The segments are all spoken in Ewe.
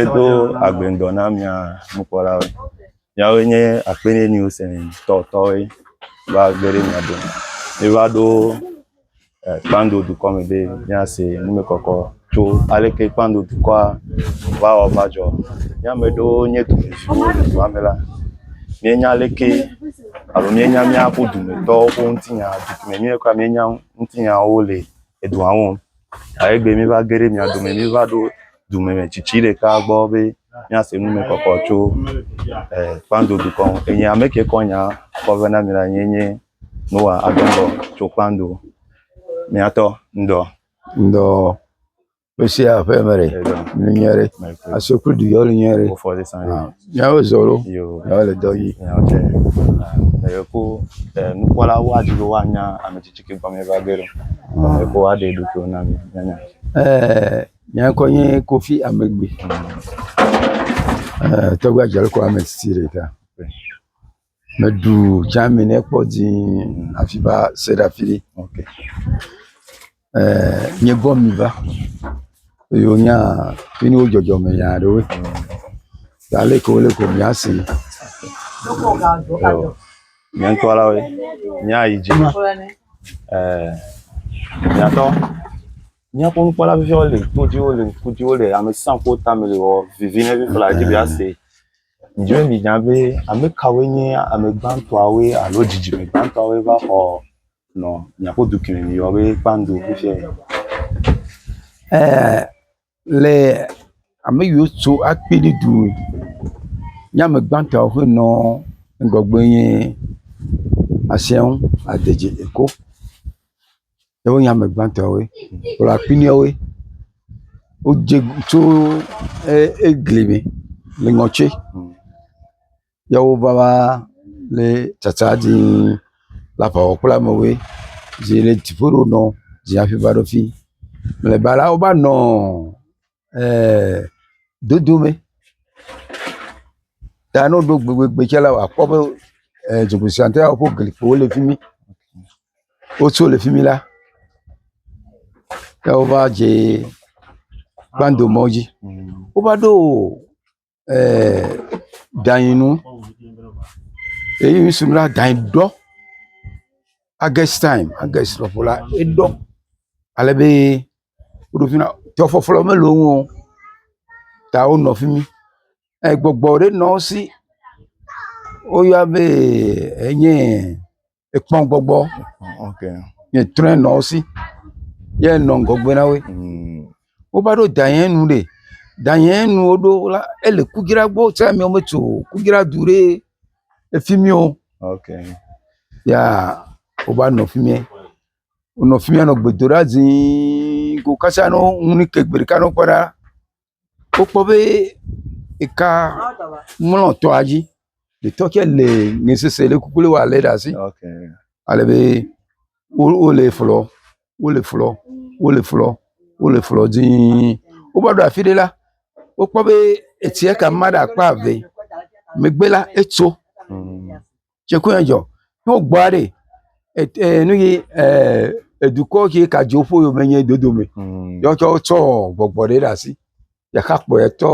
Edo agbendɔ na mia nukpɔlawo. Yawo nye akpɛnɛ niwosɛntɔtɔwoe va gbeɖe mia dome. Miva ɖo Kpando dukɔ me be míase numekɔkɔ tso aleke Kpando dukɔa va wɔ va dzɔ. Mía ame ɖewo nye dumeviwo le dua me la, míenya aleke alo míenya míaƒe dumetɔwo ƒe ŋutinya si me míawo kura míenya ŋutinyawo le edua me o. Ale egbe míeva ge ɖe mia dome míeva ɖo dumetsitsi ɖeka gbɔ be míase numekɔkɔ tso e Kpando dukɔ ŋu. Enye ame ke kɔ nyaa kɔ va na mi la enye nye. Noa adɔ ŋdɔ tso kpando. Miatɔ ŋdɔ. Ŋdɔ. Pesia ƒe me ɖe. Nu nyɛ ɖe. Aso kple du yɔli nyɛ ɖe. Miawo zɔ ɖo. Miawo le dɔ yi. Meyeko nukpɔla wa dzi be woanya ame tsitsi ke gɔme va ge ɖo. Meyeko wa ɖe ɖo to na mi. Mianya. Ɛɛ nyɛ kɔ nye kofi amegbe. Ɛɛ tɔgbe adze kɔ ame tsitsi ɖeka. Meɖu Germany kpɔ dzii hafi va se ɖe afi ɖe. Eee…, míekpɔ ami va eye wonye fi mi wodzɔdzɔ me nya aɖewo ta ale yi ke wole ko mía see. Ewɔ nye ŋutɔ la be míayi dzi eee…, miatɔ míaƒe nukpɔla viviwo le, todziwo le, ŋkudziwo le, ame sesẽ kuwo tame le ewɔ vivi na mí flawa dzi be yea see. Ɖe mìnya be ame kawoe nye ame gbãtɔawoe alo dzidzime gbãtɔawoe va xɔ nɔ mìaƒe dukɔme mìyɔ be kpando fifiae? Ɛɛ, le ame yiwo tso akpini du nye ame gbãtɔawo ƒe nɔ ŋgɔgbe nye Asɛnŋ Adedzi Eko. ye wonye ame gbãtɔe. Wole afi ma woe. Wodze tso egli me le ŋɔtse ye wova va le tsatsa dii le aʋawɔƒe la me woe. Zi le dziƒo ɖo nɔ zi hafi va ɖo fi. Mlɔeba la wova nɔ. ee dodo me ta ne woɖo gbegbegbe tsɛ la akpɔ be e dzogbesia ƒe glikpowo le fi mi. Wotso le fi mi la ya wova dze kpando mɔ dzi. Wova ɖo o. danyi nu eyi ŋsi be danyi ɖɔ ages taim ages lɔƒo la eɖɔ ale be woɖo ƒui na tɔ ƒɔƒlɔ mele wo ŋu o ta wonɔ fi mi egbɔgbɔ ɖe nɔ wo si woyɔa be enye. ekpɔ gbɔgbɔ nye trɔ nɔ wo si ye nɔ ŋgɔgbe na wo mm. wova ɖo danye nu ɖe danye nu woɖo la ele kudzra gbɔ tse amewo metso kudzra du ɖe efi mi o ya wova nɔ fi mi wonɔ fi mi nɔ gbedoɖa zii ko kasa nɔ ŋu ni ke gbe ɖeka nɔ kpɔ ɖa. wokpɔ be eka mlɔ tɔa dzi. Etɔ tsɛ le nɛ sese ɖe kuku wɔ le ɖe asi. Ale be wo wole flɔ wole flɔ wole flɔ wole flɔ dii. Wova ɖo afi ɖe la, wokpɔ be etsia kama ɖe akpa eve. Megbe la etso. tsiku ya dzɔ ne wogbɔ ya ɖi e nu yi e dukɔ ke ka dzo ƒo yome nye dodome ya wotsɔ tsɔ gbɔgbɔ ɖe ɖe asi ɖeka kpɔe tɔ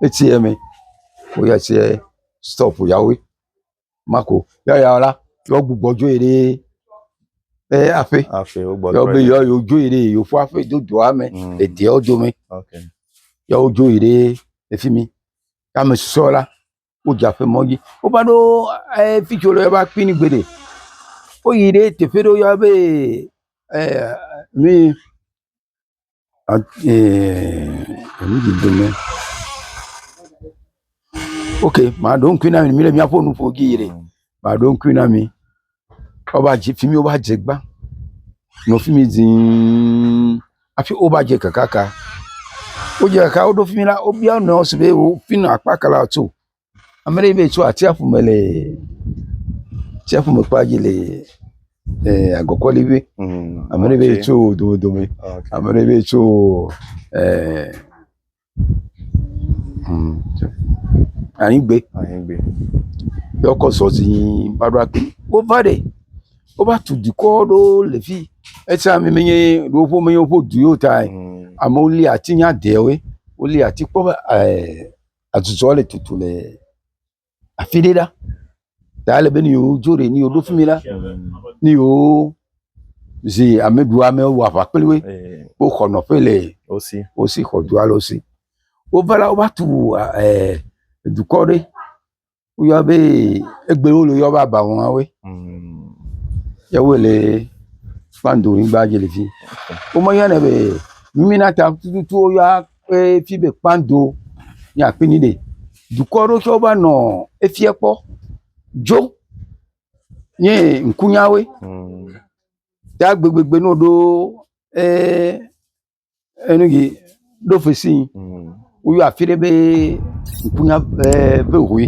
etsi me ko ya tse stɔp yawoe ma ko ya ya la yewo gbugbɔ dzo yi ɖe eƒe aƒe be yewo dzo yi ɖe yewoƒe aƒe do dɔa me le dua dome ya wodzo yi ɖe efimi ya ame susɔewo la. wodze aƒe mɔ dzi. Wova ɖo e fi tsi wole va kpi ni gbeɖe. Woyi ɖe teƒe ɖe woyɔna be e nui a e nu dzi dem ɖe. Ok maɖo ŋkui na mi le miaƒe nuƒo dzi yi ɖe maɖo ŋkui na mi. Woba dze fi mi woba dze gbã nɔ fi mi zĩi hafi woba dze kekaka. Wodze kaka woɖo fi mi la wobia wo nɔewo si be wo fi na akpa ka la tso. Ame ɖe be yetso atsiaƒu me le atsiaƒu me kpa dzi le e agɔkɔli be ame ɖe be yetso domedome ame ɖe be yetso e… Anyigbe ye wokɔ zɔ zii va ɖo afi. Wova ɖi. Wova tu dukɔ aɖewo le fii. Esia me menye yewoƒe menye yewoƒe du yewo taa o. Amewo li ati nye adewoe. Woli ati kpɔ be e adzudzɔ le tutu le. afi ɖe ɖa ta ele be ne yewodzo ɖe ne yewoɖo fi mi la ne yewozi ameɖiamewo wɔ aʋa kpli wo woxɔ nɔƒe le wo si xɔ du aɖewo si. Wova la wova tu ee dukɔ aɖe woyɔna be egbe wole yɔm be Abawoawoe ye wole kpando nyigba dzi le fi. Womeyɔnɛ be Minata tututu woyɔna. ƒe fi be kpando ye akpi ni ɖɛ. Dukɔ ɖewo tsɛ va nɔ efia kpɔ dzo ye ŋku nya woe. Ta gbegbegbe ne woɖo eeee enu yi ɖo fesii woyɔ afi ɖe be ŋkunya eeee be hoe.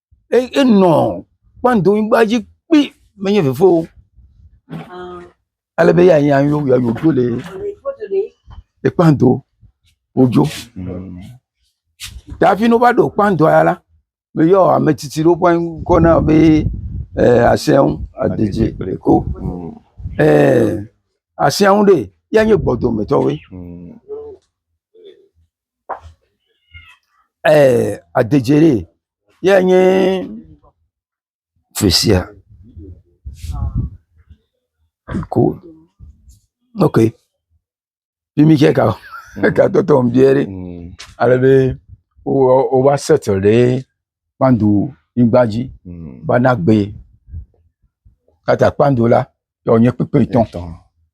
enɔ kpɔdoŋgba dzi kpi menye vevie o alebe eya nya yewo ya yewodzo le ye kpɔdo wodzo ta hafi ne wova ɖo kpɔdoa ya la be yewo ame tsitsi ɖewo ƒe ŋkɔ na wo be e asɛnŋ adidzi kple ko e asɛnŋ ɖee ya nye gbɔdometɔwoe. eeee adedziɖee yɛ nye fisia ko ok fimi tsɛ ka eka tɔtɔm biɛ ɖi alebe wowɔ wova settle ɖe kpando nyigba dzi bana gbee kata kpando la. Ye wònye kpekpetɔ. Etɔ.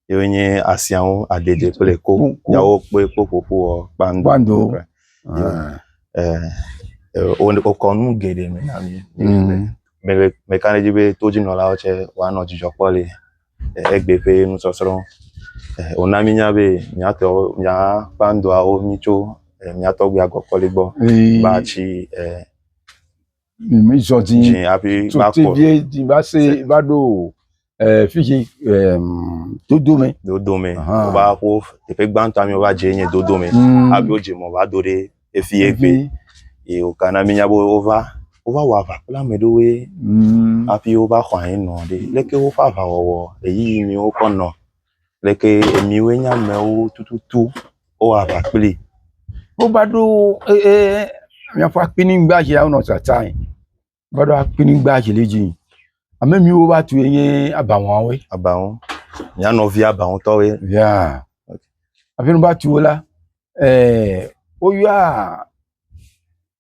Ye wònye asiawo adede kple ko. Ko- ko. Yawo kpe kpo ƒoƒu wɔ kpando. Kpando. Kple- Ah. Eh, eh, wo- wokɔ nu geɖe me na mí. Mm. Mele meka ɖe edzi be todzinɔlawo tsɛ woanɔ dzidzɔ kpɔ le eh, egbe ƒe nusɔsrɔ̃. Eh, wòna mínya be míatɔ mía kpandoawo mí tso eh, mía tɔgbuia Gɔkɔli gbɔ Ee. va tsi eh, mi mi zɔ dzi dzi hafi tso va kɔ teviɛ dzi va se Se- va ɖo eh, fidzi eh, dodo me dodo me Aha. wova ƒo teƒe gbãtɔ mi wova dze nye dodo me Mm. hafi wodze mɔ va do ɖe efie gbe Evi. ye woka na mi nya be wova wova wɔ aʋa kple ame ɖewoe Mm. hafi wova xɔ anyi nɔ ɖe leke woƒe aʋawɔwɔ ɣeyiɣi mi wokɔ nɔ like emiwoe nye amewo tututu wowɔ aʋa kpli. Wova ɖo eye míaƒe akpinyigba dzi wonɔ tsatsam. Wova ɖo akpinyigba dzi le edzi yim. Ame mi wova tsoe nye abaŋuawoe. Abaŋu. Mía nɔvia abaŋutɔwoe. Ya hafi ne wova tso la eee woyɔa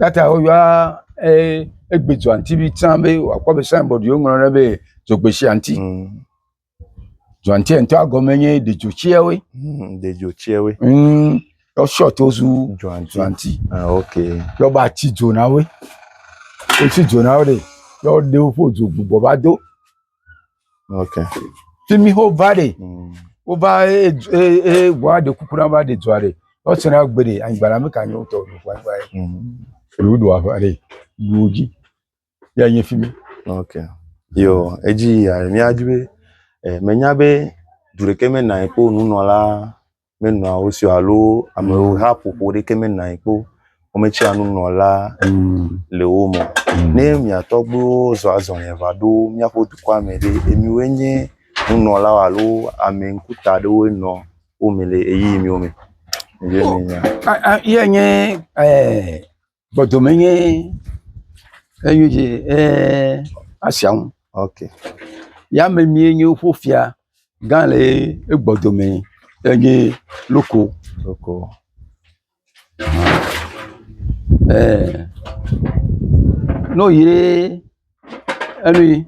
Eyata woyɔa ee egbe dzɔ aŋuti be tsã be wòakpɔ be signboard yi woŋlɔ ɖe be dzogbeshi aŋuti. Mm. Dzɔ aŋutia ŋutɔ gɔme nye ɖedzotsiawoe. Mm, ɖedzotsiawoe. Mm, wosɔ to zu dzɔ aŋuti. Ah, ok. Yɔba tsi dzonawoe. Wotsi dzonawo ɖe yɔ ɖe woƒe dzo gbugbɔ va do. Okay. Fi mi ho va ɖe. Mm. Wo va e e e wa de kuku na va de dua ɖe. Wo se na gbe ɖe anyigba la me ka nyo to do kwa kwa. Mm. Elu do ava ɖe. Du ji. Ya nye fi mi. Okay. Yo, edzi ya mi adwe. Eh, menya be du ɖeke me na ekpo nunɔla menɔa wo si o alo ameha ƒoƒo ɖeke menɔa anyi kpɔ wometsia nunɔla le wo me o. Ne mia tɔgbuiwo zɔ azɔli va ɖo míaƒe dukɔa me ɖe, miwoe nye nunɔlawo alo ame ŋkuta aɖewoe nɔ wo me le ɣeyiɣi miwo me. Miɖee mienya. Ye nye eh, Gbɔdome nye enyo dzi ee asia ŋu. Okay. Yame mie nye woƒe fia gã le ye egbɔdome enye loko. Loko. Ee. No yi ɖe enu yi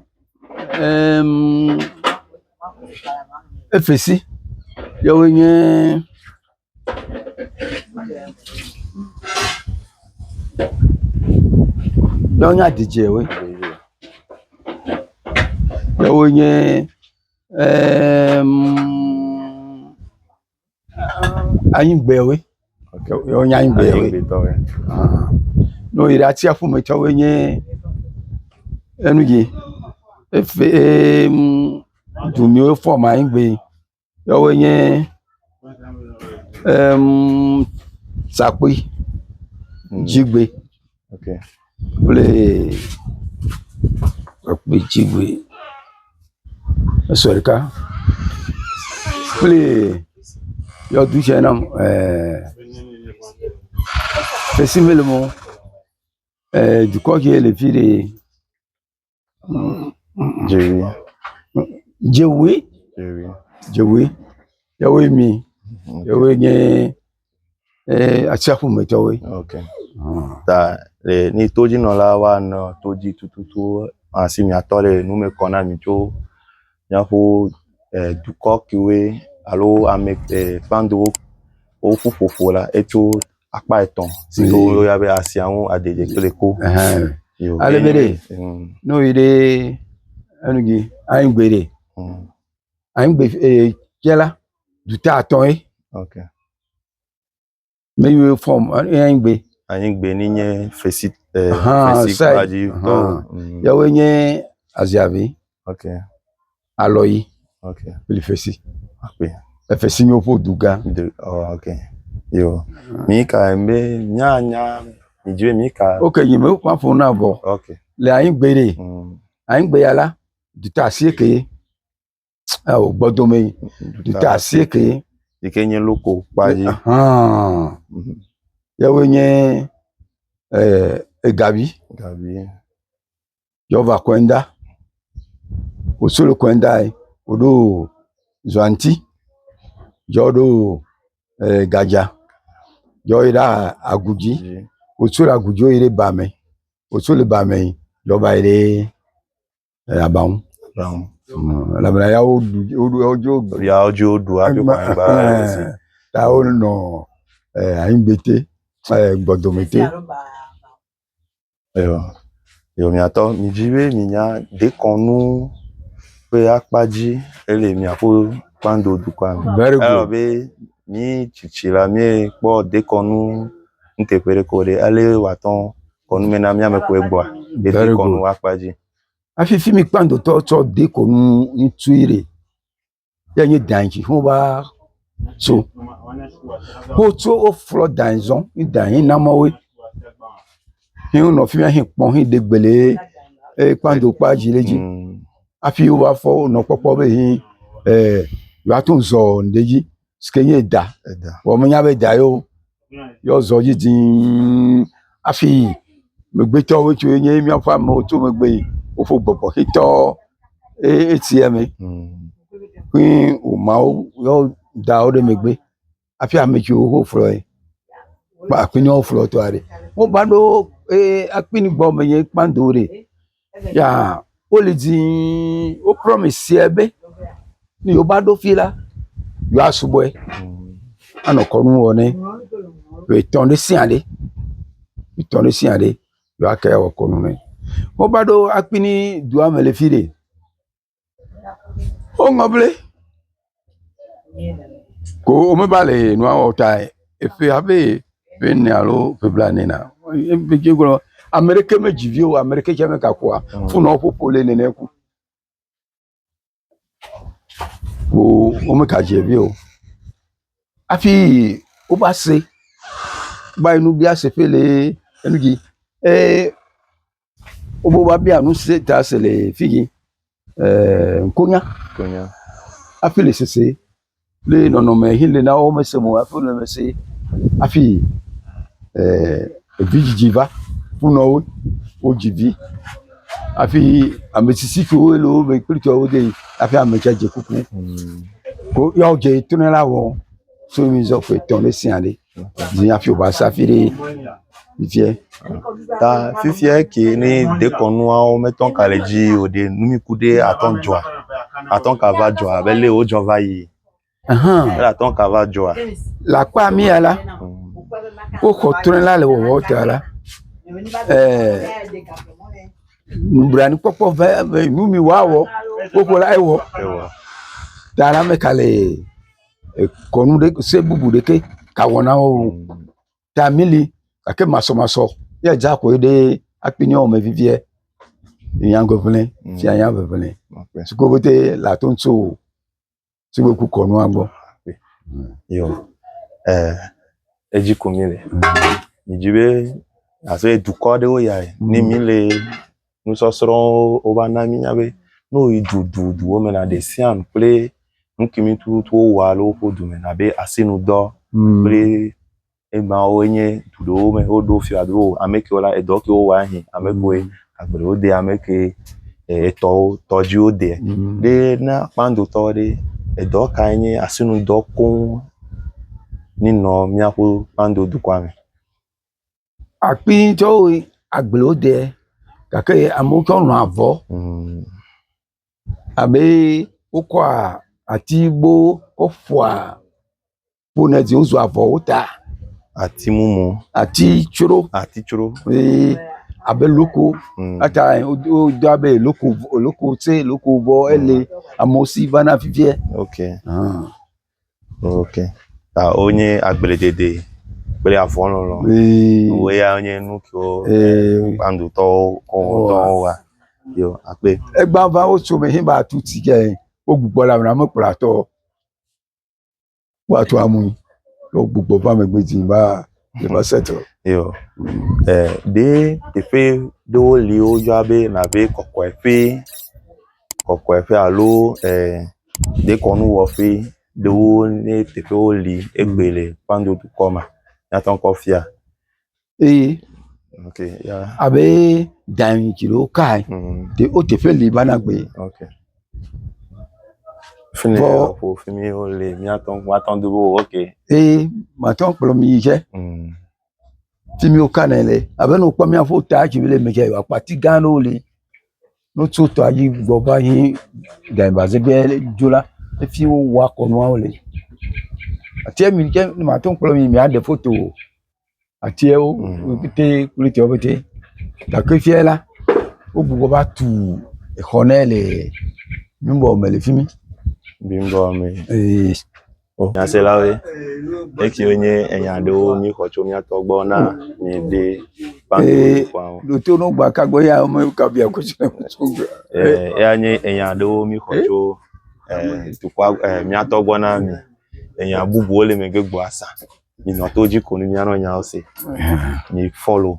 em efesi yewoe nye. Nyɔnua dzidzi woe. Ke wo nye eeee em anyigbe woe. Ok wo nye anyigbe woe. Anyigbe tɔ woe. Ahan. Ne woyi ɖe atsiaƒu me tsɛ wo nye enu dzi efe em du miwo fɔm anyigbe. Yɔwoe nye emm sakpui, dzigbe kple sakpui, dzigbe esɔ ɖeka kple yɔdo tse nam eeee fesre mele mɔ eeee dukɔ ke le fi ɖee. Dzoe. Dzoe. Yɔwoe mi. Yɔwoe nye eee atsiaƒumetɔwoe. Okay. Ta le ni todzinɔla wa nɔ todzi tututu asi mi atɔ le nu me kɔ na mi tso miaƒo e dukɔ kewoe alo ame e kpandowo woƒu ƒoƒo la etso akpa etɔ̃ si ke woyɔna be asia ŋu aɖeɖi kple ku. Ale be ɖe ne woyi ɖe enu dzi anyigbe ɖe anyigbe ee tse la dute atɔ̃ ye. Ne yi wo fɔm eye anyigbe. Anyigbe ni nye fesi ee fesi kpadzi tɔ. Yawoe nye aziavi. Alɔ yi. Ok. Li fesi. Ok. Efesi nyo ƒo du gã. Du oh, ok. Yo. Mi ka mbe nya nya mi dwe mi ka. Ok yi me kwa fo na bo. Ok. Le ayin gbe re. Mm. Ayin gbe ya la. Du ta asie ke. Ah o gbɔdo me. Du ta asie ke. Yi ke nye loko pa yi. Ah. Ya wo nye eh egabi. Gabi. yɔva kɔe ŋda wò srɔ kɔe ŋdae woɖo zɔ aŋti yɔ ɖo gadza yɔ yi ɖe agu dzi wò srɔ agu dzi yi ɖe ba me wò srɔ le ba me yɔ va yi ɖe aba ŋu elabena ya wo ɖu wo ɖu wodzo ya wodzo ɖu hafi kɔ anyigba ta wo nɔ anyigbete gbɔdomete. Eyɔ, eyɔ mìatɔ mìdzi be mìnya dekɔnu ƒe akpa dzi ele mìaƒe kpando dukɔa me. Very good. Eyɔ be mí tsitsi la míekpɔ dekɔnu nuteƒe ɖeke o ɖe ale wòatɔ kɔnu me na míame koe gbɔa le Very dekɔnu good. akpa dzi. Hafi fi mi kpandotɔ tsɔ dekɔnu ŋutui ɖe. ye nyi dai dzi ho va tso. Wotso woflɔ dai zɔ̃ ye dai he na amewoe. Ye wonɔ afi ma hekpɔ heɖe gbele eye kpando kpa dzi ɖe edzi hafi wova fɔ wonɔ kpɔkpɔ be he e yewoato zɔ ɖe edzi si ke nye eda vɔ menya be eda ye o. ye woazɔ dzi dzi hafi yi. Megbetɔwo tso ye nye míaƒe amewo tso megbe yi. Woƒo gbɔgbɔ xitɔ eye etsi ya me ƒe woma wo ye woda wo ɖe megbe hafi ame tsiwo wo flɔ ye kple afi yi ne woflɔ tɔa ɖi. Woba ɖo eye akpi gbɔ me ye kpando ɖi. Ya wole dzĩĩĩ, wo promise yɛ be, ne yewoava ɖo fii la, yewoasubɔɛ anɔ kɔnu wɔ nɛ. Ƒe etɔ̃ ɖe sia ɖe, ƒe etɔ̃ ɖe sia ɖe yewoate awɔ kɔnu nɛ. Wovaɖo akpini duame le fi ɖe. Woŋlɔ be ko womeva le nua wɔm ta eƒe abe ƒe ene alo ƒe blaene ene eye wogblɔ be ame ɖeke medzi vi o ame ɖeke tsɛ megakpɔ o fone a woƒoƒo le nene ku ko womegadzɛ vi o hafi wova se va yi nu biase ƒe lee enu dzi ee. Wobe woabia nu si ta se le figi ee nkonya hafi le sese kple nɔnɔme yi le na wo mese mo hafi wole eme sem hafi ee vidzidzi va ƒunɔ wo. Wodzi vi hafi ame tsitsi kewo le wo me kple tɔwo de hafi ame tsa dze kuku. Ko ya wo dze tona la wɔm so mizɔ ƒe etɔ̃ ɖe sia ɖe. dzi hafi wòva se hafi ɖe fifiɛ. Ta fifiɛ kee ne dekɔnuawo metɔ ka le dzi o ɖe, nu yi ku ɖe atɔ dzɔa, atɔ ka va dzɔa abe lé wodzɔ va yi. Ahan. Ele atɔ ka va dzɔa. Le akpa mea la, woxɔ trɔ̃e la le wɔwɔ ta la, ɛɛ nublanuikpɔkpɔ ŋe ŋe nu mi woawɔ woƒo la ewɔ. Ta la mɛ ka lee. kɔnu ɖe se bubu ɖeke ta wɔna wo o ta meli gake masɔmasɔ ye dza ko ye ɖee akpe nɔ ame viviɛ nya ŋɛŋlɛ fia nya ŋɛŋlɛ si ke pɛtɛ le ato ŋti o si me ku kɔnua gbɔ yo e edzi ko mile midzi be abe dukɔ ɖewo ya ne mile nusɔsrɔ̃wo wova na mínya be ne woyi du du duwo me la ɖe sia nu kple nukimi tututu wowɔa le woƒe du me abe asinudɔ mm. kple emawo nye du ɖewo me woɖo fia be o ame kewo la edɔ kewo wɔa hin ame kewoe mm. agbewo de ame ke etɔwo tɔdziwo de mm. ɖe na kpandotɔ ɖe edɔ kae nye asinudɔ koŋ nenɔ míaƒe kpando dukɔa me. akpi tsɛ woe agblewo ɖɛ gake amewo tsɛ lɔ̃ avɔ abe wokɔa atigbo kɔ ƒoa ƒonɛ dzi wozu avɔwo ta. Ati mumu. Ati tsro. Ati tsro. Ee abe loko. Eya ta wodo abe loko loko tse loko vɔ ele amewo si vana fifiɛ. Ok. Ãa. Ok. Ta wonye agbledede kple avɔlɔlɔ. Ee. Woe ya nye nu kewo kpandotɔwo kɔngɔtɔwo wa. Yo akpe. Egba va wo so me hin ba tu ti ke wo gbugbɔ la mena me kplɔ atɔ. Wa tu amu. Wo gbugbɔ va me gbedzi ba. Yeva settle. Yo. E ɖe teƒe ɖewo li woyɔa be nabe kɔkɔeƒe, kɔkɔeƒe alo e dekɔnuwɔƒe ɖewo nye teƒewo li egbe le Kpando dukɔ me. Míate ŋu akɔ afia. Eye Ok. Ya. abe dan dzi ɖewo kae Mm. te wo teƒe li va na gbe. Ok. Fini Vɔ- lɔ ƒo fi mi wo le miatɔ miatɔ do wo ok. eye màtɔ kplɔ mi yi tsɛ Mm. fi mi woka nɛ le abe ne wokpɔ miaƒe ta tsi le mi tsɛ akpati gã aɖewo li ne wotso tɔa dzi gbɔ va yi gɛnbaze gbɛ dzo la efi wowɔa kɔnuawo le atiɛ mi tsɛ ne màtɔ kplɔ mi miaɖe foto o atiawo wo pɛtɛ kple etiawo pɛtɛ gake fia la wogbugbɔ va tu exɔ ɖe le nugo me le fi mi. Nugo me. Ee. Nyaselawoe, ekewo nye enya aɖewo míxɔ tso mía tɔ gbɔ na mi de kpakpuawo. Ɖoto no gba ka gbɔ ya ame ka bia ko tso. Eya nye enya aɖewo míxɔ tso dukɔa mía tɔ gbɔ na mi. Enya bubuwo le megbe gbɔasa. minɔ to dzi ko ni mianɔ nyawo se mi fɔlo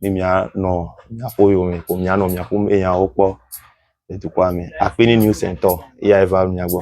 ni mianɔ miaƒo yome ko mianɔ miaƒo me nyawo kpɔ le dukɔa me akpi ni new sentɔ eya eva mia gbɔ.